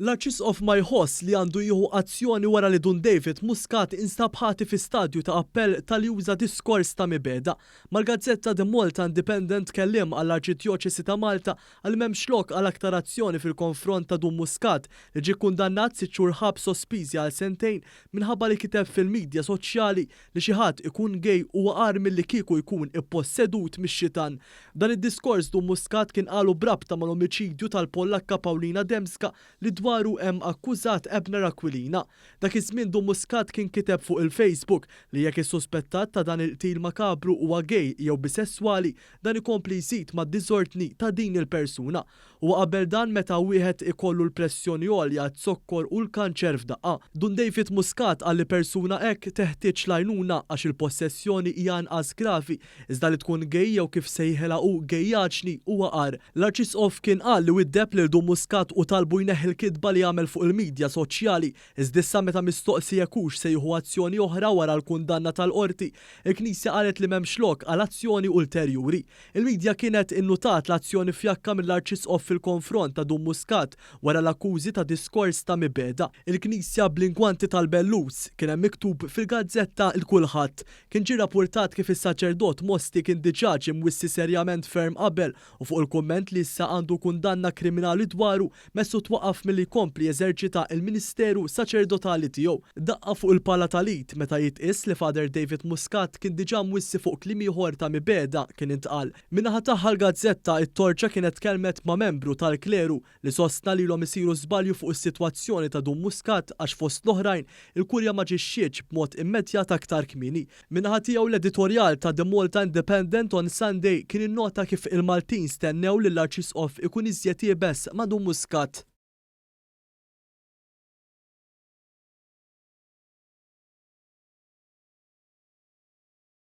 L-Arċisqof ma jħoss li għandu jieħu azzjoni wara li Dun David Muscat instab ħati fi stadju ta' appell talli uża diskors ta' mibegħda. Mal-gazzetta The Malta Independent kelliem għall-Arċidjoċesi ta' Malta qal li m'hemmx lok għal aktar azzjoni fil-konfront ta' Dun Muscat li ġie kkundannat sitt xhur ħabs sospiżi għal sentejn minħabba li kiteb fil-midja soċjali Li xi ħadd ikun gay huwa agħar milli kieku jkun ippossedut mix-xitan. Dan id-diskors Dun Muscat kien qalu b'rabta mal-omiċidju tal-Pollakka Paulina Dembska li dwaru hemm akkużat Abner Aquilina. Dak iż-żmien Dun Muscat kien kiteb fuq il-Facebook li jekk is-suspettat ta' dan il-qtil makabru huwa gay jew bisesswali dan ikompli jżid mad-diżordni ta' din il-persuna Huwa qabel dan meta wieħed ikollu l-pressjoni għolja, z-zokkor u l-kanċer f'daqqa. Dun David Muscat qal li persuna hekk teħtieġ l-għajnuna għax il-possessjoni hija inqas gravi, iżda li tkun gay jew kif sejħilha hu gayjaġni huwa agħar. L-Arċisqof kien qal li widdeb lil Dun Muscat u talbu jneħħi l-kitba li għamel fuq il-midja soċjali, iżd'issa meta mistoqsi jekk hux se jieħu azzjoni oħra wara l-kundanna tal-Qorti, il-Knisja qalet li m'hemmx lok għal azzjoni ulterjuri. Il-midja kienet innutat l-azzjoni fjakka mill-Arċisqof fil-konfront ta' Dun Muscat wara l-akkużi ta' diskors ta' mibegħda. Il-knisja bl-inkwanti tal-belluz, kien hemm miktub fil-gazzetta Il Kulħadd. Kien ġie rappurtat kif is-saċerdot Mosti kien diġà ġie mwissi serjament ferm qabel u fuq il-kumment li issa għandu kundanna kriminali dwaru, Messu twaqqaf milli jkompli jeżerċita l-ministeru saċerdotali tiegħu. Daqqa fuq il-pala tal-id meta jitqies li Father David Muscat kien diġà mwissi fuq kliem ieħor ta' mibegħda kien intqal. Min-naħa tagħha l-gazzetta it-Torċa kienet tkellmet ma' membru tal-kleru li sostna lilhom isiru żbalju fuq is-sitwazzjoni ta' Dun Muscat għax fost l-oħrajn il-Kurja m'aġixxietx b'mod immedjat aktar kmieni Min-naħa tiegħu l-editorjal ta' The Malta Independent on Sunday kien innota kif il-Maltin stennew li l-Arċisqof ikun iżjed iebes ma' Dun Muscat.